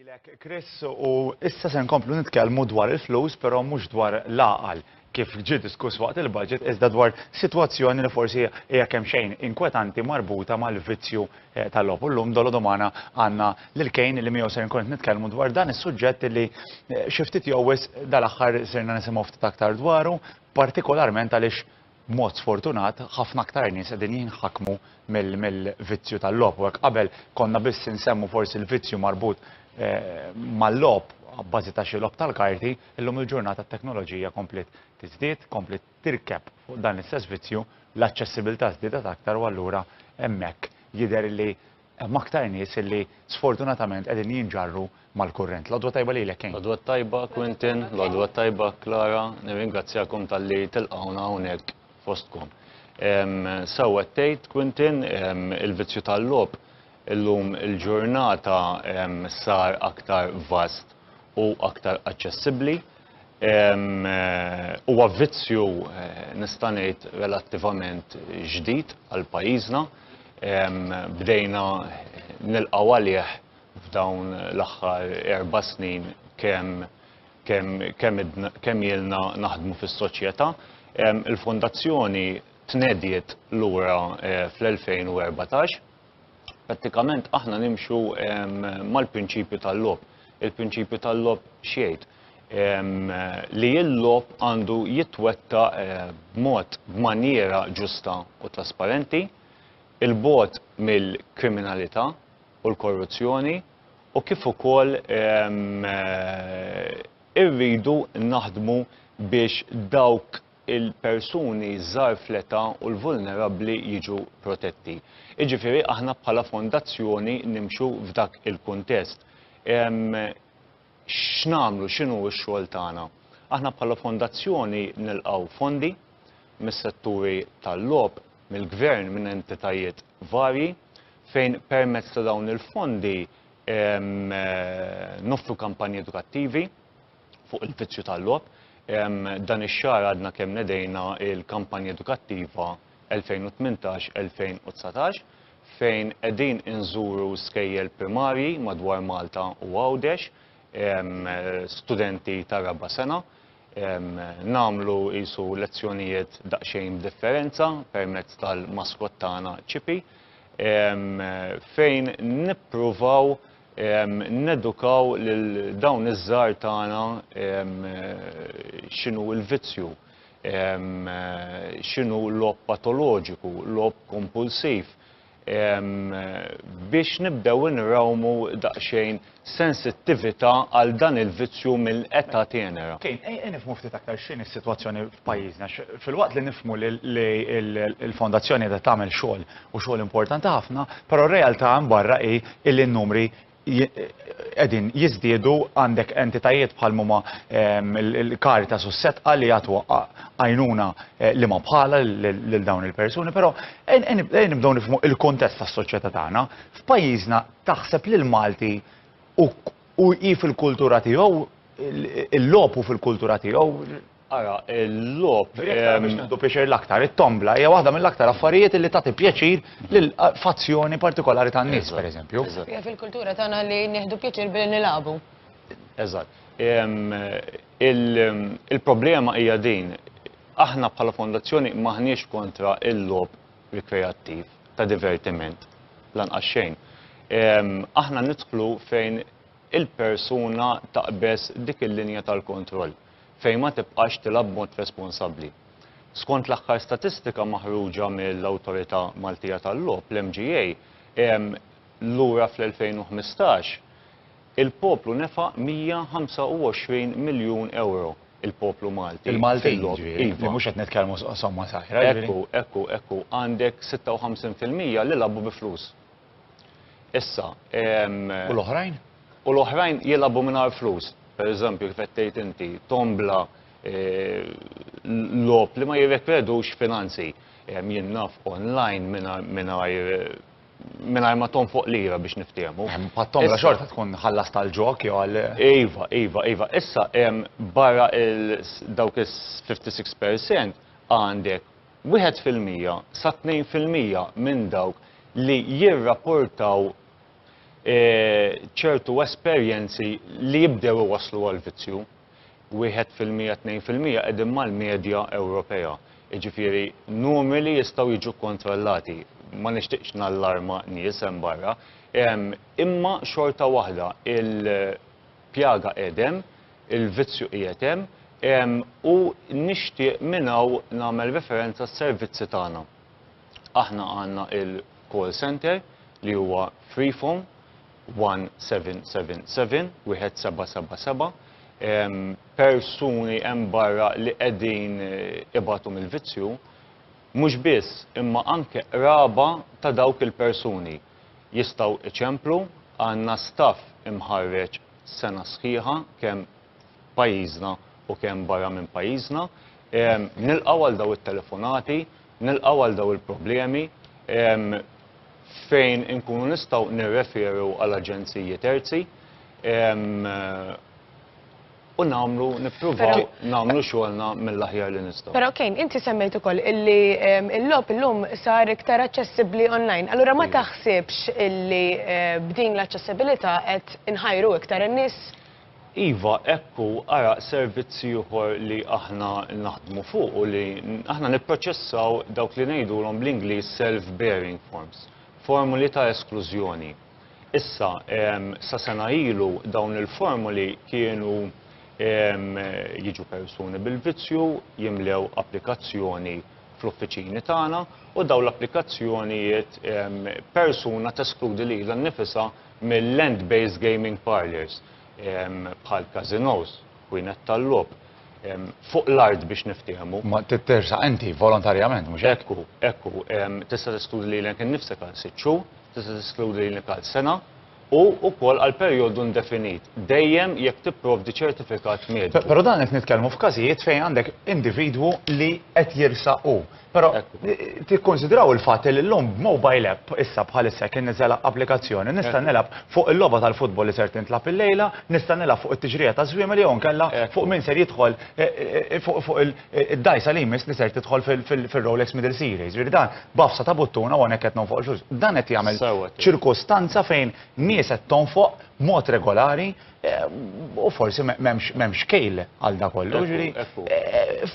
Lilek Chris u issa se nkomplu nitkellmu dwar il-flus però mhux dwar l-għaqal kif ġie diskuss waqt il-budget iżda dwar sitwazzjoni li forsi hija kemm xejn inkwetanti marbuta mal-vizzju eh, tal-logħob. Illum dolo domana għandna lil kejn li miegħu se nkun nitkellmu dwar dan is-suġġett li eh, xi ftit jowwis dal-aħħar sirna nisimgħu ftit aktar dwaru, partikolarment għaliex B'mod sfortunat, ħafna aktar nies qegħdin jinħakmu mill-vizzju tal-logħob u hekk qabel konna biss insemmu forsi l-vizzju marbut mal-logħob abbażi ta' xi logħob tal-karti, illum il-ġurnata t-teknoloġija kompliet tiżdied, kompliet tirkeb fuq dan l-istess vizzju, l-aċċessibilità żdiedet aktar u allura hemmhekk jidher li Hemm aktar nies illi sfortunatament qegħdin jinġarru mal-kurrent. L-għodwa tajba lilek Kane. L-għodwa tajba Quintin, l-għodwa tajba Clara, nirringrazzjakom talli tilqgħuna hawnhekk fostkom. Sew qed tgħid Quintin, il-vizzju tal-logħob illum il-ġurnata sar aktar vast u aktar aċċessibbli. Huwa vizzju nista' ngħid relattivament ġdid għal pajjiżna. Bdejna nilqgħu għalih f'dawn l-aħħar erba' snin kemm kemm ilna naħdmu fis-soċjetà. Il-Fondazzjoni tnediet lura fl-2014. Prattikament aħna nimxu mal-prinċipju tal-logħob. Il-prinċipju tal-logħob x'jgħid? Li l-logħob għandu jitwetta b'mod b'manjiera ġusta u trasparenti, il-bogħod mill-kriminalità u l-korruzzjoni u kif ukoll irridu naħdmu biex dawk il-persuni żgħar fl-età u l-vulnerabbli jiġu protetti. Jiġifieri aħna bħala fondazzjoni nimxu f'dak il-kuntest. X'nagħmlu, x'inhu x-xogħol tagħna? Aħna bħala fondazzjoni nilqgħu fondi mis-setturi tal-logħob, mill-gvern, minn entitajiet varji fejn permezz ta' dawn il-fondi noffru kampanji edukattivi, fuq il-vizzju tal-logħob. Dan ix-xahar għadna kemm nedejna l-kampanja edukattiva 2018-2019 fejn qegħdin inżuru skejjel primarji madwar Malta u Għawdex, studenti tar-raba' sena, nagħmlu qisu lezzjonijiet daqsxejn b'differenza permezz tal-maskott tagħna Chippy fejn nippruvaw nedukaw lil dawn iż-żgħar tagħna x'inhu l-vizzju, x'inhu logħob patoloġiku, logħob kompulsiv, biex nibdew inrawmu daqsxejn sensittività għal dan il-vizzju minn età tenera. Kane, ejja nifhmu ftit aktar x'inhi s-sitwazzjoni f'pajjiżna, filwaqt li nifhmu li l-Fondazzjoni qiegħda tagħmel xogħol u xogħol importanti ħafna, però r-realtà hemm barra hi illi n-numri qegħdin jiżdiedu għandek entitajiet bħal huma ehm, il-Caritas u s-setqa li jagħtu għajnuna eh, li ma bħala lil dawn il-persuni, però nibdew nifhmu il-kontest tas-soċjetà tagħna. F'pajjiżna taħseb li l-Malti u hi fil-kultura tiegħu il-lopu fil-kultura tiegħu Ara l-logħob. Diretta biex nieħdu pjaċir l-aktar. It-tombla hija waħda mill-aktar affarijiet li tagħti pjaċir lil fazzjoni partikolari tan-nies, pereżempju. Hija fil-kultura tagħna li nieħdu pjaċir billi nilagħbu. Eżatt. Il-problema hija din, aħna bħala fondazzjoni m'aħniex kontra l-logħob rikreattiv ta' divertiment lanqas xejn. Aħna nidħlu fejn il-persuna taqbeż dik il-linja tal-kontroll. fejn ma tibqax tilgħab b'mod responsabbli. Skont l-aħħar statistika maħruġa mill-Awtorità Maltija tal-Logħob, l-MGA, hemm lura fl-2015, il-poplu nefaq 125 miljun ewro, il-poplu Malti, fil-logħob. Il-Maltin, jiġifieri, mhux qed nitkellmu somma saħira, jiġifieri. Ekku, ekku, ekku, għandek 56 fil-mija li lagħbu bi flus. Issa, ehm, U l-oħrajn? u l-oħrajn jilagħbu mingħajr flus. Pereżempju, kif qed tgħid inti, tombla eh, logħob li ma jirrekredux finanzi. Ehm, Jien naf online mingħajr- mingħajr eh, mingħajr ma tonfoq lira biex niftehmu. Ehm, Pat-tomla Issa- xorta tkun ħallas tal-ġok jew għal. Iva, iva, iva. Issa, em, barra il- dawk is-56% għandek wieħed fil-mija sa tnejn fil-mija minn dawk li jirrapportaw ċertu esperjenzi li jibdew iwasslu għall-vizzju, wieħed fil-mija, tnejn fil-mija qegħdin mal-medja Ewropea. Jiġifieri numri li jistgħu jiġu kkontrollati. Ma nixtieqx nallarma nies hemm barra, imma xorta waħda il- Pjaga qiegħed hemm, il-vizzju qiegħed hemm, u nixtieq minn hawn nagħmel referenza għas-servizzi tagħna. Aħna għandna l-call centre li huwa free phone, 1777, wieħed seba' seba' seba'. Persuni hemm barra li qegħdin ibatu mill-vizzju, mhux biss imma anke qraba ta' dawk il-persuni. jistgħu iċemplu, għandna staff imħarreġ sena sħiħa kemm f'pajjiżna u kemm barra minn pajjiżna. Nilqgħu għal dawn it-telefonati, nilqgħu għal dawn il-problemi fejn inkunu nistgħu nirreferu għal aġenziji terzi. u nagħmlu nippruvaw nagħmlu xogħolna mill-aħjar li nistgħu. Però kien inti semmejt ukoll illi ehm, il-logħob illum sar iktar aċċessibbli online. Allura ma taħsibx illi eh, b'din l-aċċessibilità qed inħajru iktar in-nies? Iva, ekku ara servizzi ieħor li aħna naħdmu fuq u li aħna nipproċessaw dawk li ngħidulhom bl-Ingliż self-bearing forms, formuli ta' esklużjoni. Issa, sa sena ilu dawn il-formoli kienu jiġu persuni bil-vizzju jimlew applikazzjoni fl-uffiċini tagħna u dawn l-applikazzjonijiet persuna teskludi lilha nnifisha mil-land-based gaming parlours bħall-casinos. Ħwienet tal-logħob. Fuq l-art biex niftiehmu. Ma tittersaq inti volontarjament, mhux hekk? Ekku, ekku. Tista' teskludi lilek innifsek għal sitt xhur, tista' teskludi lilek għal sena, u wkoll għal perjodu indefinit, dejjem jekk tipprovdi ċertifikat mediku. Però dan qed nitkellmu f'każijiet fejn għandek individwu li qed jirsaq hu. Però tikkonsidraw il-fatt li llum b'mobile app issa bħalissa kien niżel applikazzjoni nista' nilgħab fuq il-logħba tal-futbol li ser tintlagħab illejla, nista' nilgħab fuq it-tixrieqa taż-żwiemel jew inkella fuq min ser jidħol fuq id-dgħajsa li jmiss li ser tidħol fir-Rolex Middle Series. Jiġifieri dan b'għafsa ta' buttun hawn hawnhekk qed nonfoq il-flus. Dan qed jagħmel ċirkustanza fejn nies qed tonfoq b'mod regolari U forsi m'hemmx xkejl għal dak kollu.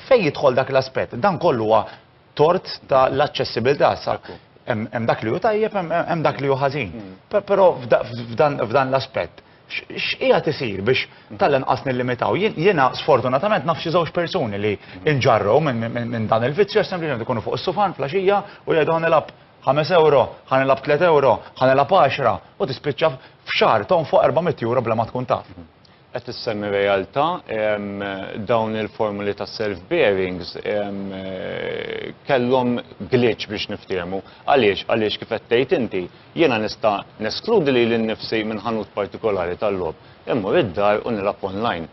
Fejn jidħol dak l-aspett? Dan kollu huwa tort ta' l-aċċessibilità. Hemm dak li hu tajjeb, hemm dak li hu ħażin. Però f'dan l-aspett, x'qiegħed isir biex tal-inqas nillimitaw? Jiena sfortunatament naf xi żewġ persuni li nġarrew minn dan il-vizzju għax sempliċement ikunu fuq is-sufan fl-għaxija u jgħidu ħa nilgħab Ħames ewro, ħa nilgħab tliet ewro, ħa nilgħab għaxra, u tispiċċa f'xahar tonfoq erba' mitt ewro bla ma tkun taf. Qed issemmi realtà, dawn il-formuli ta' self bearings kellhom glitch biex niftiehmu. Għaliex? Għaliex kif qed tgħid inti, jiena nista' neskludi lili nnifsi minn ħanut partikolari tal-logħob, immur id-dar u nilgħab online.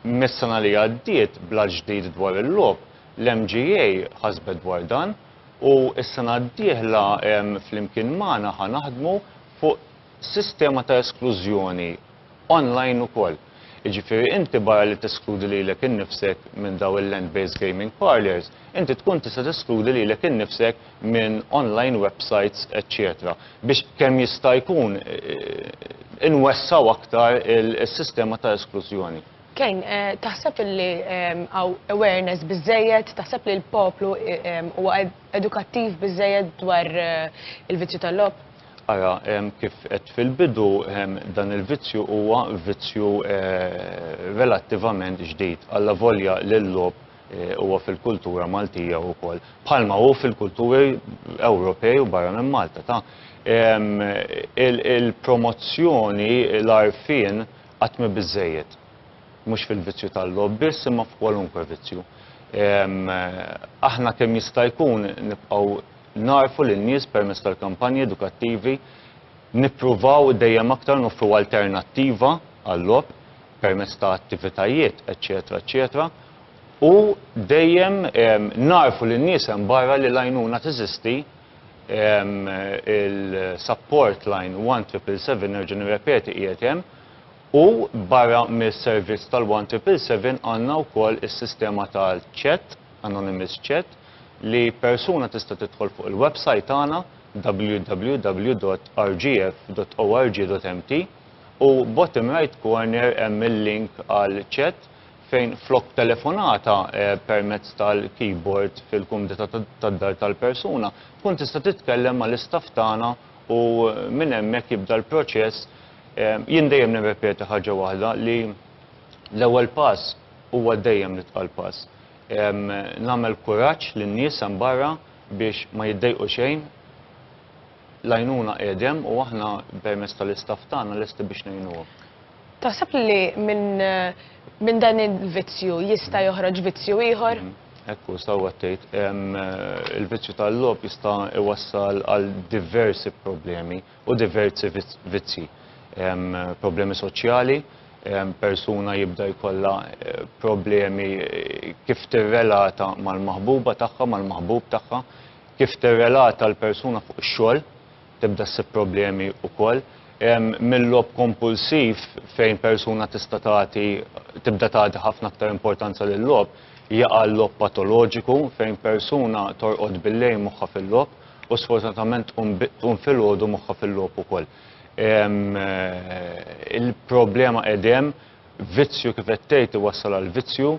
Mis-sena li għaddiet bl-att ġdid dwar il-logħob, L-MGA ħasbet dwar dan u s-sena d-dieħla flimkien magħna ħa naħdmu fuq sistema ta' esklużjoni online ukoll. Jiġifieri inti barra li teskludi lilek innifsek minn dawn il-land-based gaming parlours, inti tkun tista' teskludi lilek innifsek minn online websites eċċetera biex kemm jista' jkun inwessgħu aktar is-sistema ta' esklużjoni. Kane, taħseb illi hawn awareness biżżejjed, taħseb li l-poplu huwa edukattiv biżżejjed dwar il-vizzju tal-logħob? Ara, kif għedt fil-bidu, dan il-vizzju huwa vizzju relattivament ġdid, allavolja li l-logħob huwa fil-kultura Maltija wkoll, bħalma hu fil-kulturi Ewropej u barra minn Malta. Ta' il-promozzjoni, l-għarfien, Qatt m'hi biżżejjed. Mhux fil-vizzju tal-logħob biss imma f'kwalunkwe vizzju. Aħna kemm jista' jkun nibqgħu nagħrfu lin-nies permezz tal-kampanji edukattivi, nippruvaw dejjem aktar noffru alternattiva għal-logħob permezz ta' attivitajiet, eċċetera, eċċetera, u dejjem nagħrfu lin-nies hemm barra li l-għajnuna teżisti, il-support line 1777, nerġa' nirrepeti, qiegħed hemm, u barra mis-servizz tal-1777 għandna wkoll is-sistema tal-chat, anonymous chat, li persuna tista' tidħol fuq il-website tagħna www.rgf.org.mt u bottom right corner hemm il-link għal chat fejn flok telefonata permezz tal-keyboard fil-kumdità tad-dar tal-persuna, tkun tista' titkellem mal-istaff tagħna u minn hemmhekk jibda l-proċess. Jien dejjem nirrepeti ħaġa waħda li l-ewwel pass huwa dejjem l-itqal pass. Nagħmel kuraġġ lin-nies hemm barra biex ma jiddejqu xejn. L-għajnuna qiegħed hemm u aħna permezz tal-istaff tagħna lesti biex ngħinuhom. Taħseb li minn dan il-vizzju jista' joħroġ vizzju ieħor? Hekk hu, sewwa tgħid. Il-vizzju tal-logħob jista' jwassal għal diversi problemi u diversi vizzji. Problemi soċjali, persuna jibda jkollha problemi kif tirrelata mal-maħbuba tagħha, mal-maħbub tagħha, kif tirrelata l-persuna fuq ix-xogħol. Tibda ssib problemi wkoll. Mil-logħob kompulsiv fejn persuna tista' tagħti tibda tagħti ħafna aktar importanza lil-logħob, jaqa' l-logħob patoloġiku fejn persuna torqod bil-lejl moħħha fil-logħob u sfortunatament tqum tqum filgħodu moħħha fil-logħob ukoll. Il-problema qegħdhemm, vizzju kif qed tgħid iwassal għall-vizzju.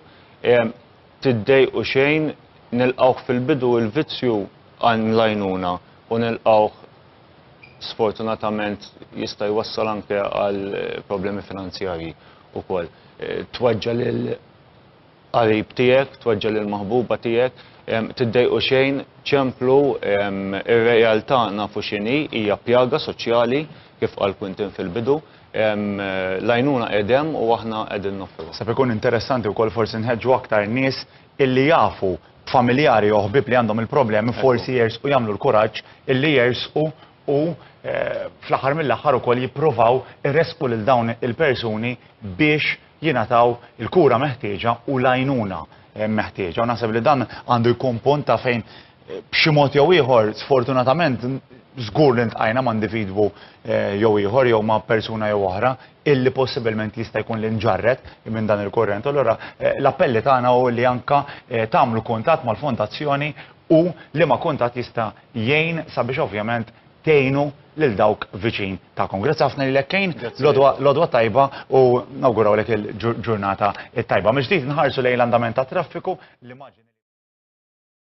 Tiddejqu xejn, nilqgħuh fil-bidu il-vizzju għan l-għajnuna u nilqgħuh sfortunatament jista' jwassal anke għal problemi finanzjarji wkoll. Tweġġa' lil qarib tiegħek, tweġġa' lil maħbuba tiegħek. Tiddejqu xejn, ċemplu, ir-realtà nafu x'inhi, hija pjaga soċjali kif qal Quintin fil-bidu. L-għajnuna qiegħed hemm u aħna qegħdin noffruha. Sab ikun interessanti wkoll forsi nħeġġu aktar nies illi jafu familjari jew ħbieb li għandhom il-problemi forsi jersqu jagħmlu l-kuraġġ illi jersqu u fl-aħħar mill-aħħar ukoll jippruvaw iressqu lil dawn il-persuni biex jingħataw il-kura meħtieġa u l-għajnuna meħtieġa. U naħseb li dan għandu jkun punt ta' fejn B'xi mod jew ieħor, sfortunatament, żgur li ntqajna ma' individwu eh, jew ieħor jew ma' persuna jew oħra illi possibilment jista' jkun li nġarret minn dan il-kurrent. Allora, eh, l-appelli tagħna u li anka eh, tagħmlu kuntatt mal-fondazzjoni u li ma' kuntatt jista' jgħin sabiex ovvjament tgħinu lil dawk viċin tagħkom. Grazzi ħafna li lekkejn, l-odwa tajba u nawguraw lek il-ġurnata tajba. Mġdijt nħarsu lejn l-andament ta' traffiku, l-immaġini